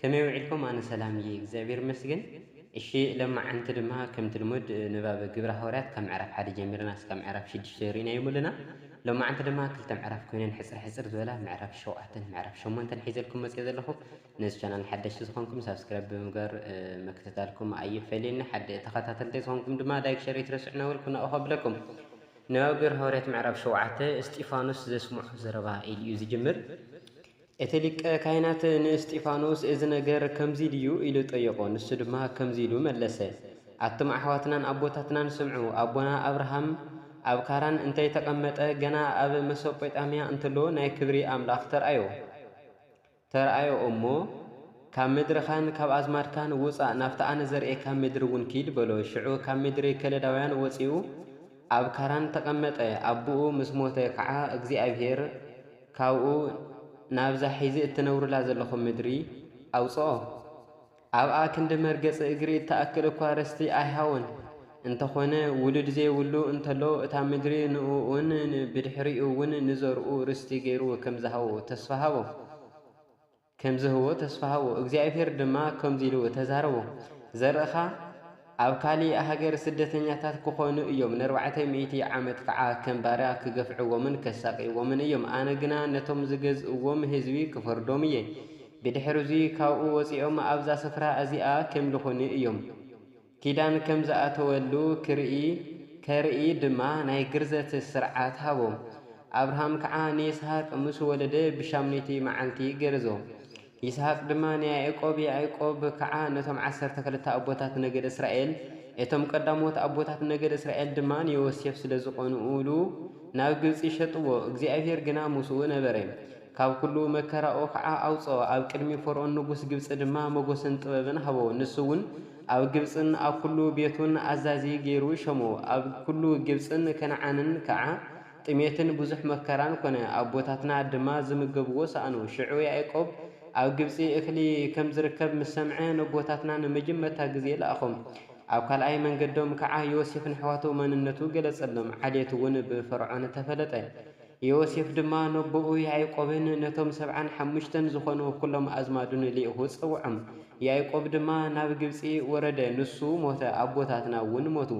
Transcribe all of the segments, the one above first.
ከመይ ውዒልኩም ኣነ ሰላም እየ እግዚኣብሔር ይመስገን እሺ ሎማዓንቲ ድማ ከምቲ ልሙድ ንባብ ግብረ ሃዋርያት ካብ ምዕራፍ ሓደ ጀሚርና እስካብ ምዕራፍ ሽዱሽተ ሪኢናዮም ኣለና ሎማዓንቲ ድማ ክልተ ምዕራፍ ኮይነን ሕጽር ሕጽር ዝበላ ምዕራፍ ሸውዓተን ምዕራፍ ሸሞንተን ሒዘልኩም መጽየ ዘለኹ ነዚ ቻናል ሓደሽቲ ዝኾንኩም ሳብስክራይብ ብምግባር ምክትታልኩም ኣይፈለየኒ ሓደ ተኸታተልተይ ዝኾንኩም ድማ ላይክ ሸር ኣይትረስዑ ናበልኩ ናኡ ከብለኩም ንባብ ግብረ ሃዋርያት ምዕራፍ ሸውዓተ እስጢፋኖስ ዘስምዖ ዘረባ ኢሉ እዩ ዝጅምር እቲ ሊቀ ካህናት ንእስጢፋኖስ እዚ ነገር ከምዚ ድዩ? ኢሉ ጠየቖ። ንሱ ድማ ከምዚ ኢሉ መለሰ፣ ኣቱም ኣሕዋትናን ኣቦታትናን ስምዑ፣ ኣቦና ኣብርሃም ኣብ ካራን እንተ ተቐመጠ፣ ገና ኣብ መሶጶጣምያ እንተሎ ናይ ክብሪ ኣምላኽ ተርኣዮ። ተርኣዮ እሞ፣ ካብ ምድርኻን ካብ ኣዝማድካን ውጻእ፣ ናብቲ ኣነ ዘርእየካ ምድሪ እውን ኪድ በሎ። ሽዑ ካብ ምድሪ ከለዳውያን ወጺኡ ኣብ ካራን ተቐመጠ፣ ኣቦኡ ምስ ሞተ ኸዓ እግዚኣብሄር፣ ካብኡ ናብዛ ሒዚ እትነብሩላ ዘለኹም ምድሪ ኣውጽኦ። ኣብኣ ክንዲ መርገጺ እግሪ እትኣክል እኳ ርስቲ ኣይሃቦን። እንተኾነ ውሉድ ዘይብሉ እንተሎ እታ ምድሪ ንእኡን ብድሕሪኡውን ንዘርኡ ርስቲ ገይሩ ከም ዝሃቦ ተስፋ ሃቦ። ከም ዚህቦ ተስፋ ሃቦ። እግዚኣብሄር ድማ ከምዚ ኢሉ ተዛረቦ፣ ዘርእኻ ኣብ ካልእ ሃገር ስደተኛታት ኪዀኑ እዮም፣ ንኣርባዕተ ሚእቲ ዓመት ከዓ ከም ባርያ ኪገፍዕዎምን ኬሳቕይዎምን እዮም። ኣነ ግና ነቶም ዚገዝእዎም ህዝቢ ክፈርዶም እየ፣ ብድሕርዙይ ካብኡ ወፂኦም ኣብዛ ስፍራ እዚኣ ኬምልኹኒ እዮም። ኪዳን ከም ዝኣተወሉ ክርኢ ከርኢ ድማ ናይ ግርዘት ሥርዓት ሃቦ። ኣብርሃም ከዓ ንይስሃቅ ምስ ወለደ ብሻሙነይቲ መዓልቲ ገረዞ። ይስሃቅ ድማ ንያእቆብ ያእቆብ ከዓ ነቶም ዓሰርተ ክልተ ኣቦታት ነገድ እስራኤል እቶም ቀዳሞት ኣቦታት ነገድ እስራኤል ድማ ንዮሴፍ ስለ ዝቀንኡሉ ናብ ግብጺ ሸጥዎ እግዚኣብሔር ግና ምስኡ ነበረ ካብ ኩሉ መከራኡ ከዓ ኣውጽኦ ኣብ ቅድሚ ፈርኦን ንጉሥ ግብጺ ድማ መጎስን ጥበብን ሃቦ ንሱውን ኣብ ግብጽን ኣብ ኵሉ ቤቱን ኣዛዚ ገይሩ ሸሞ። ኣብ ኵሉ ግብጽን ከነዓንን ከኣ ጥሜትን ብዙሕ መከራን ኰነ፣ ኣቦታትና ድማ ዚምገብዎ ሰኣኑ። ሽዑ ያእቆብ ኣብ ግብጺ እኽሊ ኸም ዚርከብ ምስ ሰምዐ፣ ነቦታትና ንመጀመርታ ግዜ ለኣኾም። ኣብ ካልኣይ መንገዶም ከኣ ዮሴፍ ነሕዋቱ መንነቱ ገለጸሎም፣ ዓሌቱውን ብፈርዖን ተፈለጠ። ዮሴፍ ድማ ነቦኡ ያእቆብን ነቶም ሰብዓን ሓሙሽተን ዝዀኑ ዅሎም ኣዝማዱን ልኢኹ ጸውዖም። ያእቆብ ድማ ናብ ግብጺ ወረደ፣ ንሱ ሞተ፣ ኣቦታትና እውን ሞቱ።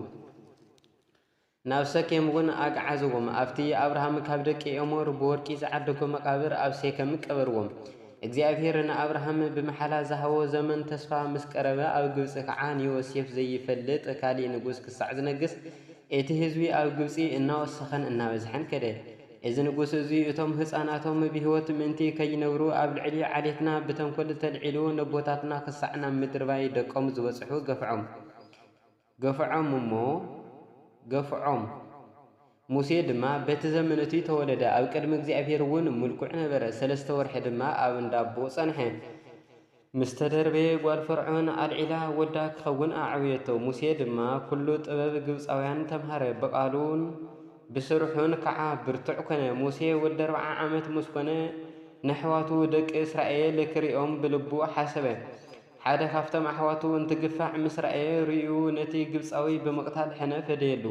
ናብ ሰኬም እውን ኣግዓዝዎም፣ ኣብቲ ኣብርሃም ካብ ደቂ ኤሞር ብወርቂ ዝዓደጎ መቓብር ኣብ ሴከም ቀበርዎም። እግዚኣብሄር ንኣብርሃም ብምሓላ ዝሃቦ ዘመን ተስፋ ምስ ቀረበ፣ ኣብ ግብጺ ኸዓ ንዮሴፍ ዘይፈልጥ ካልእ ንጉስ ክሳዕ ዝነግስ እቲ ህዝቢ ኣብ ግብጺ እናወሰኸን እናበዝሐን ከደ። እዚ ንጉስ እዙይ እቶም ህጻናቶም ብህይወት ምእንቲ ከይነብሩ ኣብ ልዕሊ ዓሌትና ብተንኮል ተልዒሉ ነቦታትና ክሳዕ ናብ ምድርባይ ደቆም ዝበጽሑ ገፍዖም። ገፍዖም እሞ ገፍዖም። ሙሴ ድማ በቲ ዘመን እቱይ ተወለደ። ኣብ ቅድሚ እግዚኣብሄር እውን ምልኩዕ ነበረ። ሰለስተ ወርሒ ድማ ኣብ እንዳቦኡ ጸንሐ። ምስ ተደርበየ ጓል ፈርዖን ኣልዒላ ወዳ ክኸውን ኣዕበየቶ፣ ሙሴ ድማ ኵሉ ጥበብ ግብጻውያን ተምሃረ፣ ብቓሉን ብስርሑን ከዓ ብርቱዕ ኰነ። ሙሴ ወዲ ኣርብዓ ዓመት ምስ ኰነ፣ ነሕዋቱ ደቂ እስራኤል ክርእዮም ብልቡ ሓሰበ። ሓደ ኻብቶም ኣሕዋቱ እንትግፋዕ ምስ ረኣየ፣ ርእዩ ነቲ ግብጻዊ ብምቕታል ሕነ ፈደየሉ።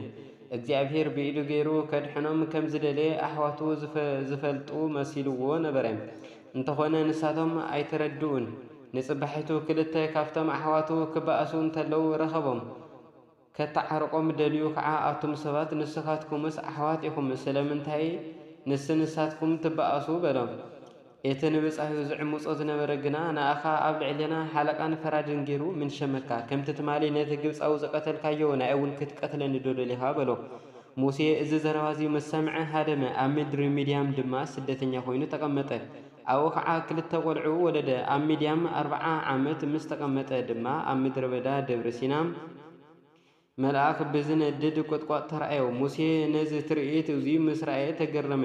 እግዚኣብሄር ብኢዱ ገይሩ ከድሕኖም ከም ዝደለየ ኣሕዋቱ ዝፈልጡ መሲልዎ ነበረ። እንተኾነ ንሳቶም ኣይተረድኡን። ንጽባሒቱ ክልተ ካብቶም ኣሕዋቱ ክበኣሱ እንተለዉ ረኸቦም። ከተዓርቆም ደልዩ ከኣ ኣቱም ሰባት ንስኻትኩምስ ኣሕዋት ኢኹም ስለምንታይ ንስ ንሳትኩም ትበኣሱ በሎም። እቲ ንብጻዩ ዝዕምጾ ዝነበረ ግና ንኣኻ ኣብ ልዕሌና ሓለቃን ፈራድን ጌሩ ምን ሸመካ ከምቲ ትማሊ ነቲ ግብጻዊ ዝቀተልካዮ ንኣይውን ክትቀትለኒዶ ደሊኻ በሎ። ሙሴ እዚ ዘረባ እዚ ምስ ሰምዐ ሃደመ፣ ኣብ ምድሪ ምድያም ድማ ስደተኛ ዀይኑ ተቐመጠ። ኣብኡ ኸዓ ኽልተ ቈልዑ ወለደ። ኣብ ምድያም ኣርብዓ ዓመት ምስ ተቐመጠ ድማ ኣብ ምድረ በዳ ደብረ ሲና መልኣኽ ብዚነድድ ቍጥቋጥ ተራእዮ። ሙሴ ነዚ ትርኢት እዙይ ምስ ረኣየ ተገረመ፣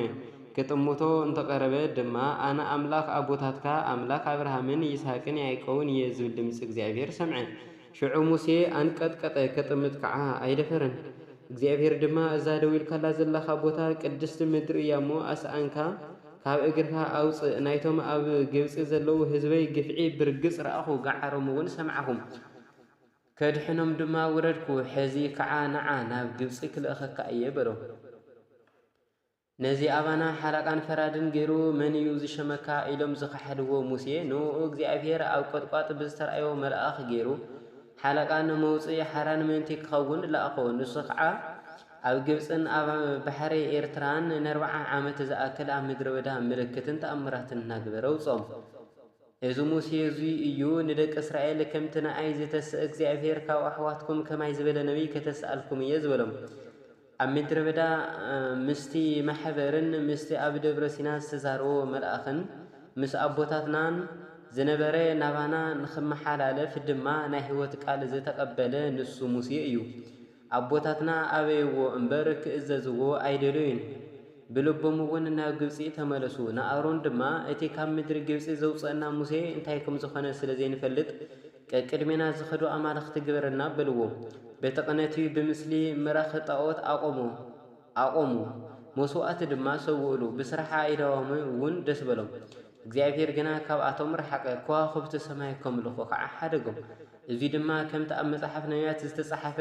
ኪጥምቶ እንተ ቐረበ ድማ፣ ኣነ ኣምላኽ ኣቦታትካ፣ ኣምላኽ ኣብርሃምን ይስሃቅን ያእቆብን እየ ዝብል ድምፂ እግዚኣብሄር ሰምዐ። ሽዑ ሙሴ ኣንቀጥቀጠ፣ ኬጥምት ከኣ ኣይደፈረን። እግዚኣብሄር ድማ፣ እዛ ደው ኢልካላ ዘለኻ ቦታ፣ ቅድስቲ ምድሪ እያ እሞ፣ ኣስኣንካ ኻብ እግርካ ኣውጽእ። ናይቶም ኣብ ግብጺ ዘለዉ ህዝበይ ግፍዒ ብርግጽ ረኣኹ፣ ገዓሮምውን ሰማዕኹ፣ ከድሕኖም ድማ ወረድኩ። ሕዚ ኸኣ ንዓ፣ ናብ ግብጺ ክልእኸካ እየ፣ በሎ። ነዚ ኣባና ሓላቃን ፈራድን ገይሩ መን እዩ ዝሸመካ ኢሎም ዝኸሓድዎ ሙሴ ንእኡ እግዚኣብሄር ኣብ ቆጥቋጥ ብዝተርኣዮ መልኣኽ ገይሩ ሓላቃ ንመውጽኢ ሓራን ምእንቲ ክኸውን ለኣኾ ንሱ ኸኣ ኣብ ግብጽን ኣብ ባሕሪ ኤርትራን ነርብዓ ዓመት ዝኣክል ኣብ ምድረ በዳ ምልክትን ተኣምራትን እናግበረ ኣውጽኦም እዚ ሙሴ እዙይ እዩ ንደቂ እስራኤል ከምቲ ንኣይ ዝተስእ እግዚኣብሄር ካብ ኣሕዋትኩም ከማይ ዝበለ ነቢይ ከተስኣልኩም እየ ዝበሎም ኣብ ምድረ በዳ ምስቲ ማሕበርን ምስቲ ኣብ ደብረ ሲና ዝተዛረቦ መልኣኽን ምስ ኣቦታትናን ዝነበረ ናባና ንኽመሓላለፍ ድማ ናይ ሕይወት ቃል ዘተቀበለ ንሱ ሙሴ እዩ። ኣቦታትና ኣበይዎ እምበር ክእዘዝዎ ኣይደለዩን። ብልቦምውን ናብ ግብጺ ተመለሱ። ንኣሮን ድማ እቲ ካብ ምድሪ ግብጺ ዘውጸእና ሙሴ እንታይ ከምዝኾነ ስለዘይንፈልጥ ቀቅድሜና ዝኸዱ ኣማልኽቲ ግበረልና በልዎ። በቲ ቕነት እዩ ብምስሊ ምራኽ ጣኦት ኣቖሙ ኣቖሙ መስዋእቲ ድማ ሰውእሉ ብስራሕ ኣኢዳዎምም እውን ደስ በሎም። እግዚኣብሄር ግና ካብኣቶም ረሓቐ ከዋኹብቲ ሰማይ ከምልኹ ኸዓ ሓደጎም። እዙይ ድማ ከምቲ ኣብ መጽሓፍ ነብያት ዝተጸሓፈ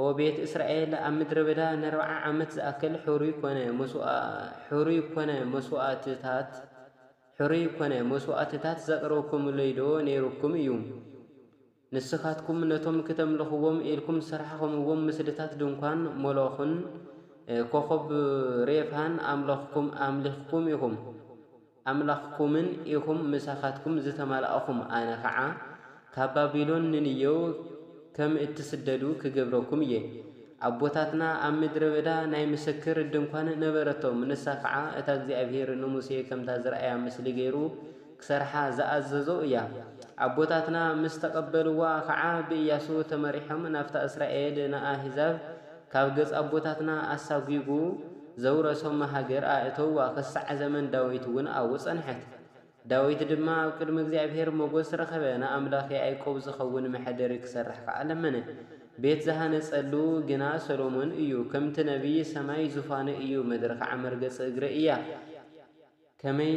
ኦ ቤት እስራኤል ኣብ ምድረ በዳ ነርብዓ ዓመት ዝኣክል ሕሩይ ኮነ መስዋእትታት ሕሩይ ኰነ መስዋእትታት ዘቕረብኩምለይዶ ነይሩኩም እዩ? ንስኻትኩም ነቶም ክተምልኽዎም ኢልኩም ዝሰራሕኹምዎም ምስልታት ድንኳን ሞሎኽን ኮኾብ ሬፋን ኣምለኽኩም ኣምሊኽኩም ኢኹም፣ ኣምላኽኩምን ኢኹም፣ ምሳኻትኩም ዝተማላእኹም ኣነ ኸዓ ካብ ባቢሎን ንንየው ከም እትስደዱ ክገብረኩም እየ። ኣቦታትና ኣብ ምድረ በዳ ናይ ምስክር ድንኳን ነበረቶም፣ ንሳ ኸዓ እታ እግዚኣብሄር ንሙሴ ከምታ ዝረኣያ ምስሊ ገይሩ ክሰርሓ ዝኣዘዞ እያ። ኣቦታትና ምስ ተቐበልዋ ኸዓ ብእያሱ ተመሪሖም ናብታ እስራኤል ንኣህዛብ ካብ ገጽ ኣቦታትና ኣሳጒጉ ዘውረሶም ሃገር ኣእተውዋ፣ ኽሳዕ ዘመን ዳዊት እውን ኣብኡ ጸንሐት። ዳዊት ድማ ኣብ ቅድሚ እግዚኣብሄር ሞገስ ረኸበ፣ ንኣምላኽ ያእቆብ ዚኸውን መሐደሪ ኪሰርሕ ከኣ ለመነ። ቤት ዝሃነጸሉ ግና ሰሎሞን እዩ። ከምቲ ነብዪ፣ ሰማይ ዙፋነይ እዩ፣ ምድሪ ኸኣ መርገጺ እግረይ እያ። ከመይ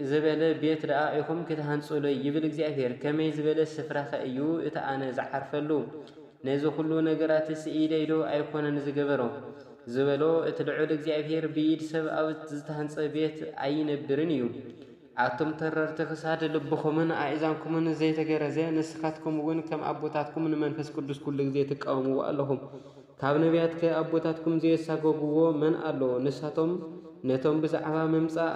ዝበለ ቤት ደኣ ኢኹም ክትሃንጹለይ? ይብል እግዚኣብሄር። ከመይ ዝበለ ስፍራኸ እዩ እቲ ኣነ ዝዓርፈሉ? ነዚ ዅሉ ነገራትስ ኢደይ ዶ ኣይኰነን ዝገበሮ? ዝበሎ እቲ ልዑል እግዚኣብሄር ብኢድ ሰብ ኣብ ዝተሃንጸ ቤት ኣይነብርን እዩ። ኣቱም ተረርቲ ክሳድ፣ ልብኹምን ኣእዛንኩምን ዘይተገረዘ፣ ንስኻትኩምውን ከም ኣቦታትኩም ንመንፈስ ቅዱስ ኵሉ ግዜ ትቃወምዎ ኣለኹም። ካብ ነብያትከ ኣቦታትኩም ዘየሳጐግዎ መን ኣሎ? ንሳቶም ነቶም ብዛዕባ ምምጻእ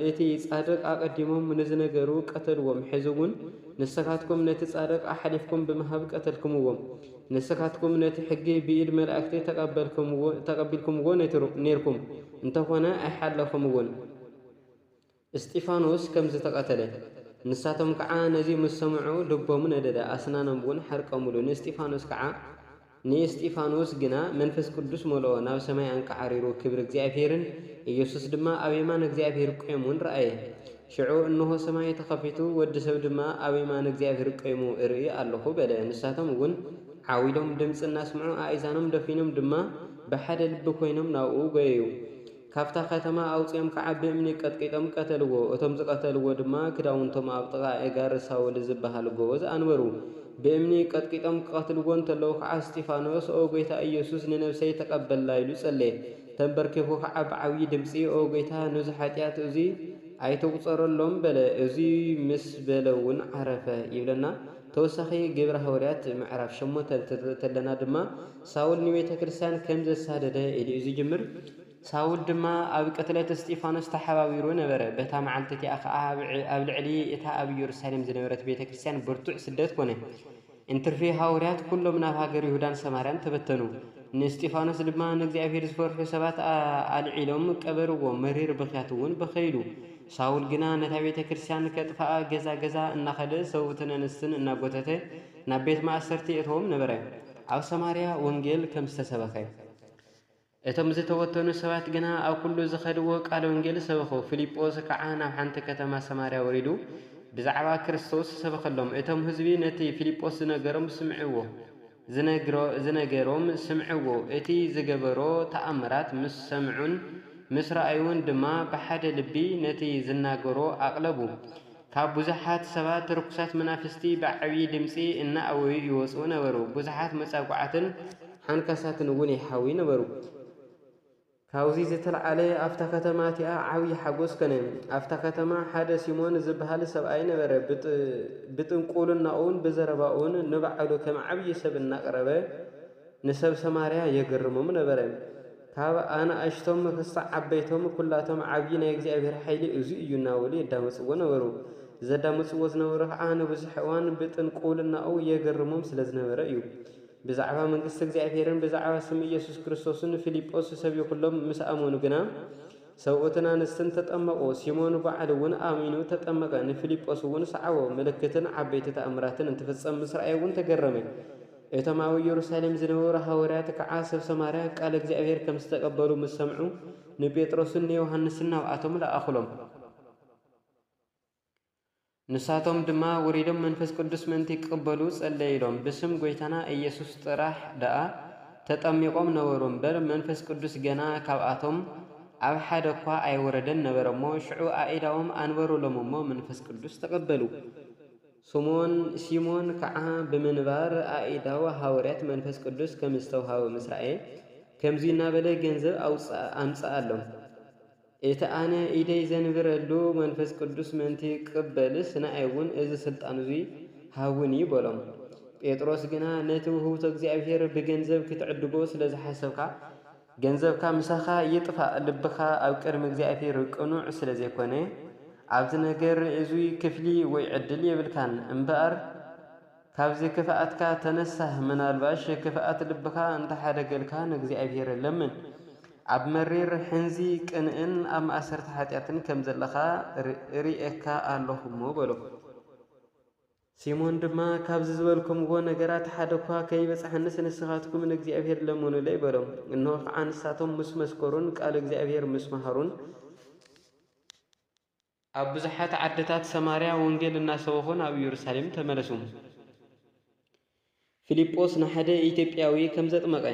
እቲ ጻድቕ ኣቐዲሞም ንዝነገሩ ቀተልዎም፣ ሕዚውን ንስኻትኩም ነቲ ጻድቕ ኣሕሊፍኩም ብምሃብ ቀተልኩምዎ። ንስኻትኩም ነቲ ሕጊ ብኢድ መላእክቲ ተቐቢልኩምዎ ኔርኩም፣ እንተኾነ ኣይሓለኹምዎን። እስጢፋኖስ ከም ዝተቐተለ። ንሳቶም ከዓ ነዚ ምስ ሰምዑ ልቦም ነደደ፣ ኣስናኖምውን ሓርቀሙሉ፣ ንእስጢፋኖስ ከዓ። ንእስጢፋኖስ ግና መንፈስ ቅዱስ መልኦ፣ ናብ ሰማይ ኣንቃዕሪሩ ክብሪ እግዚኣብሄርን ኢየሱስ ድማ ኣብ የማን እግዚኣብሄር ቈይሙን ረኣየ። ሽዑ እንሆ ሰማይ ተኸፊቱ፣ ወዲ ሰብ ድማ ኣብ የማን እግዚኣብሄር ቈይሙ እርኢ ኣሎኹ በለ። ንሳቶም እውን ዓው ኢሎም ድምጺ እናስምዑ ኣእዛኖም ደፊኖም ድማ ብሓደ ልቢ ኰይኖም ናብኡ ጐየዩ። ካብታ ከተማ ኣውጺኦም ከዓ ብእምኒ ቀጥቂጦም ቀተልዎ። እቶም ዝቐተልዎ ድማ ክዳውንቶም ኣብ ጥቓ ኣእጋር ሳውል ዝበሃል ጎበዝ ኣንበሩ። ብእምኒ ቀጥቂጦም ክቐትልዎ እንተለዉ ከዓ እስጢፋኖስ ኦ ጐይታ ኢየሱስ ንነብሰይ ተቐበላ ኢሉ ጸለየ። ተንበርኪኹ ከዓ ብዓብዪ ድምጺ ኦ ጐይታ ኑዚ ሓጢኣት እዙይ ኣይትቑጸረሎም በለ እዙይ ምስ በለውን ዓረፈ። ይብለና ተወሳኺ ግብሪ ሃወርያት ምዕራፍ ሸሞንተ ንተንትል ተለና ድማ፣ ሳውል ንቤተ ክርስቲያን ከም ዘሳደደ ኢሉ'ዩ ዝጅምር። ሳውል ድማ ኣብ ቅትለት እስጢፋኖስ ተሓባቢሩ ነበረ። በታ መዓልቲ እቲኣ ኸኣ ኣብ ልዕሊ እታ ኣብ ኢየሩሳሌም ዝነበረት ቤተ ክርስቲያን ብርቱዕ ስደት ኰነ። እንትርፊ ሃዋርያት ኵሎም ናብ ሃገር ይሁዳን ሰማርያን ተበተኑ። ንእስጢፋኖስ ድማ ንእግዚኣብሄር ዝፈርሑ ሰባት ኣልዒሎም ቀበርዎ፣ መሪር ብኽያት'ውን በኸይሉ። ሳውል ግና ነታ ቤተ ክርስቲያን ከጥፍኣ ገዛ ገዛ እናኸደ ሰብኡትን ኣንስትን እናጐተተ ናብ ቤት ማእሰርቲ የእትዎም ነበረ። ኣብ ሰማርያ ወንጌል ከም ዝተሰበኸ፣ እቶም ዝተወተኑ ሰባት ግና ኣብ ኩሉ ዝኸድዎ ቃል ወንጌል ሰበኹ። ፊልጶስ ከኣ ናብ ሓንቲ ከተማ ሰማርያ ወሪዱ ብዛዕባ ክርስቶስ ሰበኸሎም። እቶም ህዝቢ ነቲ ፊልጶስ ዝነገሮም ስምዕዎ ዝነገሮም ስምዕዎ፣ እቲ ዝገበሮ ተኣምራት ምስ ሰምዑን ምስ ረኣዩን ድማ ብሓደ ልቢ ነቲ ዝናገሮ ኣቕለቡ። ካብ ብዙሓት ሰባት ርኩሳት መናፍስቲ ብዓብዪ ድምጺ እናኣወዩ ይወጽኡ ነበሩ፣ ብዙሓት መጻጉዓትን ሓንካሳትን እውን ይሓውዩ ነበሩ። ካብዚ ዝተልዓለ ኣብታ ከተማ እቲኣ ዓብዪ ሓጎስ ከነ። ኣብታ ከተማ ሓደ ሲሞን ዝበሃል ሰብኣይ ነበረ፣ ብጥንቁልናኡን ብዘረባኡን ንባዕሉ ከም ዓብዪ ሰብ እናቕረበ ንሰብ ሰማርያ የገርሞም ነበረ። ካብ ኣናእሽቶም ኽሳዕ ዓበይቶም ኵላቶም ዓብዪ ናይ እግዚኣብሄር ሓይሊ እዙይ እዩ እናበሉ የዳምፅዎ ነበሩ። ዘዳምፅዎ ዝነበሩ ኸዓ ንብዙሕ እዋን ብጥንቁልናኡ የገርሞም ስለ ዝነበረ እዩ። ብዛዕባ መንግስቲ እግዚኣብሄርን ብዛዕባ ስም ኢየሱስ ክርስቶስን ፊልጶስ ሰቢኹሎም ምስ ኣመኑ ግና ሰብኡትን ኣንስትን ተጠመቑ። ሲሞን ባዕሉ እውን ኣሚኑ ተጠመቐ፣ ንፊልጶስ እውን ሰዓቦ፣ ምልክትን ዓበይቲ ተኣምራትን እንትፍፀም ምስ ረኣየ እውን ተገረመ። እቶም ኣብ ኢየሩሳሌም ዝነበሩ ሃወርያት ከኣ ሰብ ሰማርያ ቃል እግዚኣብሔር ከም ዝተቀበሉ ምስ ሰምዑ ንጴጥሮስን ንዮሐንስን ናብኣቶም ለኣኹሎም። ንሳቶም ድማ ወሪዶም መንፈስ ቅዱስ ምእንቲ ክቅበሉ ጸለይሎም ብስም ጐይታና ኢየሱስ ጥራሕ ደኣ ተጠሚቆም ነበሩ እምበር መንፈስ ቅዱስ ገና ካብኣቶም ኣብ ሓደ እኳ ኣይወረደን ነበረ እሞ ሽዑ ኣኢዳዎም ኣንበሩሎም እሞ መንፈስ ቅዱስ ተቀበሉ። ስሞን፣ ሲሞን፣ ከኣ ብምንባር ኣኢዳው ሃወርያት መንፈስ ቅዱስ ከም ዝተውሃቦ ምስ ረኣየ፣ ከምዙይ እናበለ ገንዘብ ኣምጽኣሎም፣ እቲ ኣነ ኢደይ ዘንብረሉ መንፈስ ቅዱስ ምእንቲ ክቕበልስ፣ ንኣይውን እዚ ሥልጣን እዙይ ሃቡኒ በሎም። ጴጥሮስ ግና ነቲ ውህብቶ እግዚኣብሔር ብገንዘብ ክትዕድጎ ስለ ዝሓሰብካ፣ ገንዘብካ ምሳኻ ይጥፋእ ልብኻ ኣብ ቅድሚ እግዚኣብሔር ቅኑዕ ስለ ዘይኮነ ኣብዚ ነገር እዙይ ክፍሊ ወይ ዕድል የብልካን እምበኣር ካብዚ ክፍኣትካ ተነሳህ ምናልባሽ ክፍኣት ልብኻ እንተሓደገልካ ንእግዚኣብሔር ለምን ኣብ መሪር ሕንዚ ቅንእን ኣብ ማእሰርቲ ሓጢኣትን ከም ዘለኻ እርእየካ ኣለኹ እሞ በሎ። ሲሞን ድማ፣ ካብዚ ዝበልኩምዎ ነገራት ሓደ እኳ ከይበጽሓኒስ ንስኻትኩም ንእግዚኣብሄር ለምኑለይ በሎም። እንሆ ኸዓ ንሳቶም ምስ መስከሩን ቃል እግዚኣብሄር ምስ መሃሩን፣ ኣብ ብዙሓት ዓድታት ሰማርያ ወንጌል እናሰበኹን ኣብ ኢየሩሳሌም ተመለሱ። ፊልጶስ ንሓደ ኢትዮጵያዊ ከም ዘጥመቐ።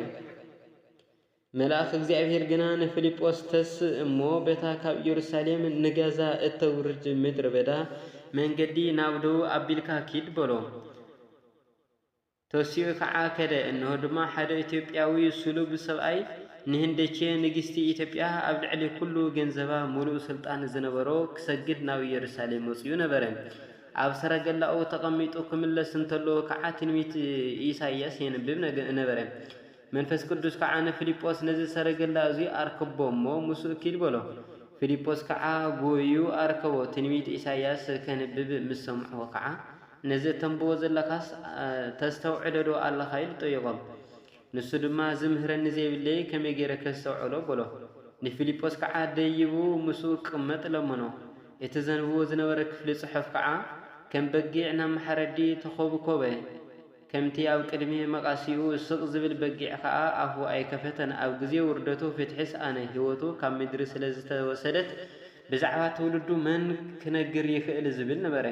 መልኣኽ እግዚኣብሔር ግና ንፊልጶስ ተስእ እሞ በታ ካብ ኢየሩሳሌም ንጋዛ እተውርድ ምድረ በዳ መንገዲ ናብ ደቡብ ኣቢልካ ኪድ በሎ። ተሲኡ ኸዓ ከደ። እንሆ ድማ ሓደ ኢትዮጵያዊ ስሉብ ሰብኣይ ንህንደኬ ንግሥቲ ኢትዮጵያ ኣብ ልዕሊ ኩሉ ገንዘባ ምሉእ ሥልጣን ዝነበሮ ክሰግድ ናብ ኢየሩሳሌም መጺኡ ነበረ። ኣብ ሰረገላኡ ተቐሚጡ ክምለስ እንተሎ ከኣ ትንቢት ኢሳይያስ የንብብ ነበረ። መንፈስ ቅዱስ ከኣ ንፊልጶስ ነዚ ሰረገላ እዙይ ኣርክቦ እሞ ምስኡ ኪድ በሎ። ፊልጶስ ከኣ ጎዩ ኣርከቦ። ትንቢት ኢሳይያስ ከንብብ ምስ ሰምዖ ከኣ ነዚ እተንብቦ ዘለኻስ ተስተውዕለዶ ኣለኻ ኢሉ ጠየቖ። ንሱ ድማ ዚምህረኒ ዘይብለይ ከመይ ገይረ ከስተውዕሎ? በሎ። ንፊልጶስ ከኣ ደይቡ ምስኡ ኪቕመጥ ለመኖ። እቲ ዘንብቦ ዝነበረ ክፍሊ ጽሑፍ ከኣ ከም በጊዕ ናብ ማሕረዲ ተዀብኰበ። ከምቲ ኣብ ቅድሚ መቛስይኡ ስቕ ዚብል በጊዕ ከኣ ኣፉ ኣይከፈተን። ኣብ ግዜ ውርደቱ ፍትሒ ሰኣነ። ህይወቱ ካብ ምድሪ ስለ ዝተወሰደት ብዛዕባ ትውልዱ መን ኪነግር ይኽእል? ዚብል ነበረ።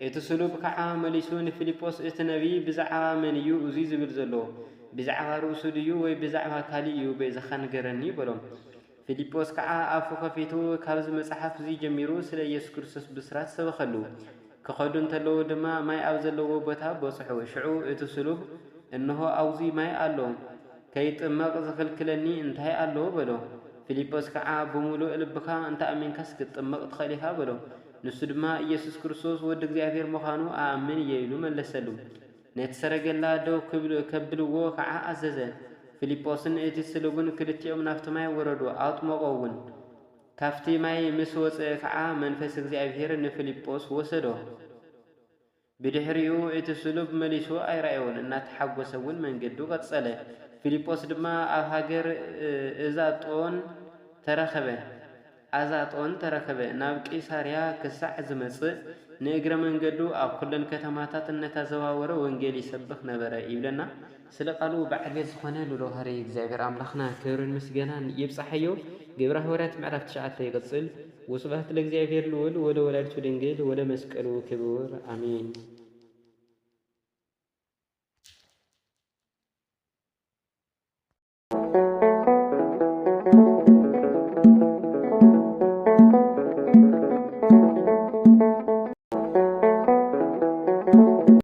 እቲ ስሉብ ከዓ መሊሱ ንፊልጶስ እቲ ነቢይ ብዛዕባ መን እዩ እዙይ ዝብል ዘሎ? ብዛዕባ ርእሱ ድዩ ወይ ብዛዕባ ካሊእ እዩ በይዛኻ ንገረኒ በሎ። ፊልጶስ ከዓ ኣፉ ከፊቱ ካብዚ መፅሓፍ እዙይ ጀሚሩ ስለ ኢየሱስ ክርስቶስ ብስራት ሰበኸሉ። ክኸዱ እንተለዉ ድማ ማይ ኣብ ዘለዎ ቦታ በፅሑ። ሽዑ እቲ ስሉብ እንሆ ኣውዙይ ማይ ኣሎ ከይጥመቕ ዝኽልክለኒ እንታይ ኣሎ በሎ። ፊልጶስ ከዓ ብሙሉእ ልብኻ እንተኣሚንካስ ክትጥመቕ ትኸእል ኢኻ በሎ። ንሱ ድማ ኢየሱስ ክርስቶስ ወዲ እግዚኣብሔር ምዃኑ እኣምን እየ ኢሉ መለሰሉ። ነቲ ሰረገላ ደው ከብልዎ ኸዓ ኣዘዘ። ፊልጶስን እቲ ስሉብን ክልቲኦም ናፍቲ ማይ ወረዱ፣ ኣጥመቖውን። ካፍቲ ማይ ምስ ወጽእ ኸዓ መንፈስ እግዚኣብሔር ንፊልጶስ ወሰዶ። ብድሕሪኡ እቲ ስሉብ መሊሱ ኣይረኣዮን፣ እናተሓጐሰ እውን መንገዱ ቀጸለ። ፊልጶስ ድማ ኣብ ሃገር እዛጦን ተረኽበ፣ Azaton፣ ተረኽበ፣ ናብ ቂሳርያ ክሳዕ ዝመጽእ፣ ንእግረ መንገዱ ኣብ ኵለን ከተማታት እናተዘዋወረ ወንጌል ይሰብኽ ነበረ ይብለና። ስለ ቃሉ ብዓገት ዝኾነ ሉሎ ሃረይ እግዚኣብሔር ኣምላኽና ክብርን ምስገናን ይብጻሓዮ ግብረ ሃዋርያት ምዕራፍ ትሽዓተ ይቅጽል ወስብሃት ለእግዚኣብሔር ልኡል ወለወላዲቱ ድንግል ወለመስቀሉ ክቡር ኣሜን።